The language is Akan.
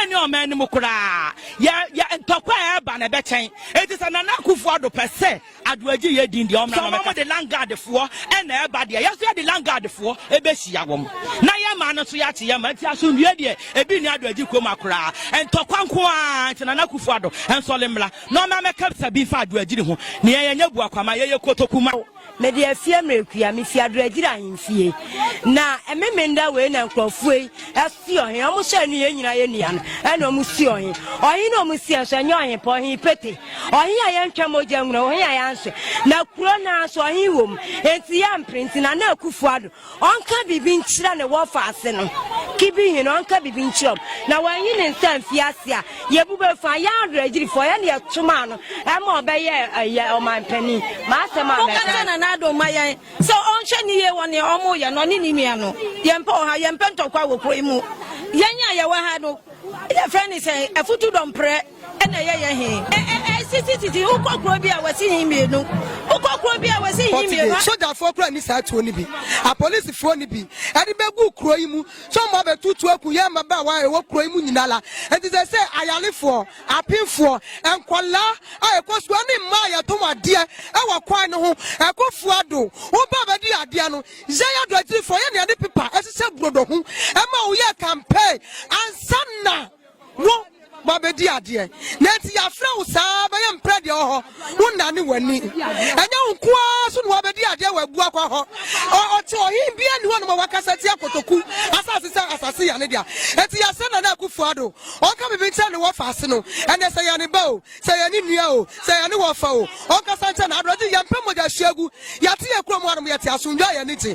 Yɛn ne ɔman no mu koraa yɛ yɛ ntɔkwa a ɛreba na ɛbɛkyɛn. Eti sɛ Nana Akufo-Addo pɛ sɛ Adoagye yɛ din deɛ ɔmmra na ɔmmɛka. Sɛ wɔn de Landguard foɔ na ɛba deɛ, yɛn nso yɛde Landguard foɔ ɛbɛhyia wɔn na yɛn man no nso yɛakye yɛn man. Eti asomdwoeɛ deɛ ebi nni Adoagye kurom ha koraa. Ntɔkwa nko ara nti Nana Akufo-Addo nsɔre mmra na ɔmmra mmɛka bisa bi mfa Adoagye ho. Nea yɛnyɛ buakwama, yɛyɛ kotoku ma. mede afie mmerekua me fi adoragyiri ahemfie na ɛmemenda wei na nkurɔfoɔ yi asi ɔhen ɔmo hyɛ no yɛn nyinaa yɛ nua no ɛna ɔmo si ɔhen ɔhen na ɔmo si ɛnso ɛnyɛ ɔhen pɔ ɔhen pete ɔhen a yɛntwa mogya nwura ɔhen a yɛanhyɛ na kuro naa so ɔhen wɔ mu enti yɛ mpere nti na na akufoɔ ado Ɔnka biribi nkyerɛ ne wɔfa ase no. Kibi hin ɔnka biribi nkyerɛ ɔm. Na wanyi ne nsa mfi ase a, yɛbu bɛ fa yɛ awerɛgyirifo. Yɛne yɛto maa no ɛma ɔbɛyɛ ɛyɛ ɔmanpanin. M'asɛm a mɛka. Monka nkyerɛ Nana Addo mma yɛn sɛ ɔnhwɛ ne yie wɔ nea wɔreyɛ no, ɔne ne nua no. Yɛmpɛ ɔhaw, yɛmpɛ ntɔkwa wɔ kuro yi mu. Yɛn a yɛwɔ ha no, yɛfrɛ no sɛn? Afutu dɔmprɛ. Ɛna ɛyɛ yɛ he? Ɛ ɛ ɛ sisi sisi wokɔ kuro bi a wɔsi hin mmienu wokɔ kuro bi a wɔsi hin mmienu. Ɔte sogyafoɔ kura ni saa tuo no bi apolisifoɔ no bi ɛde bɛgu kuro yi mu sɛ ɔmo abɛtu tuo aku yɛn mmabaawa a ɛwɔ kuro yi mu nyina la nti sɛ sɛ ayarefoɔ apemfoɔ nkɔlaa a ɛkɔ sukuu ɛne mmaa a yɛtɔn adeɛ ɛwɔ kwan no ho ɛkɔ fua do wo ba bɛdi adeɛ no yɛ yɛ do akyirifoɔ yɛ nea ɛde pepa ɛhyehyɛ brodo ho ɛma wo yɛ campaign ansa na Wo, woabɛdi adeɛ, na enti yɛafrɛ wo saa bɛyɛ mprɛ deɛ wɔ hɔ, wonnane w'ani. Ɛnyɛ wo nko ara so na woabɛdi adeɛ wɔ abuakwa hɔ. Ɔte ɔhene biara nni hɔ nom a wakasa atia Kotoku asase sɛ asase yɛ ne dea. Enti yɛsrɛ Nana Akufo-Addo ɔnka biribi nkyerɛ ne wɔfa ase no ɛnnɛ, sɛ ɛyɛ ne ba o, sɛ ɛyɛ ne nua o, sɛ ɛyɛ ne wɔfa o, ɔnkasa nkyerɛ no. Aberɛgye, yɛmpɛ mogya hwiegu, yɛate yɛn kurom hanom, yɛte asomdwoe a yɛn ani gye.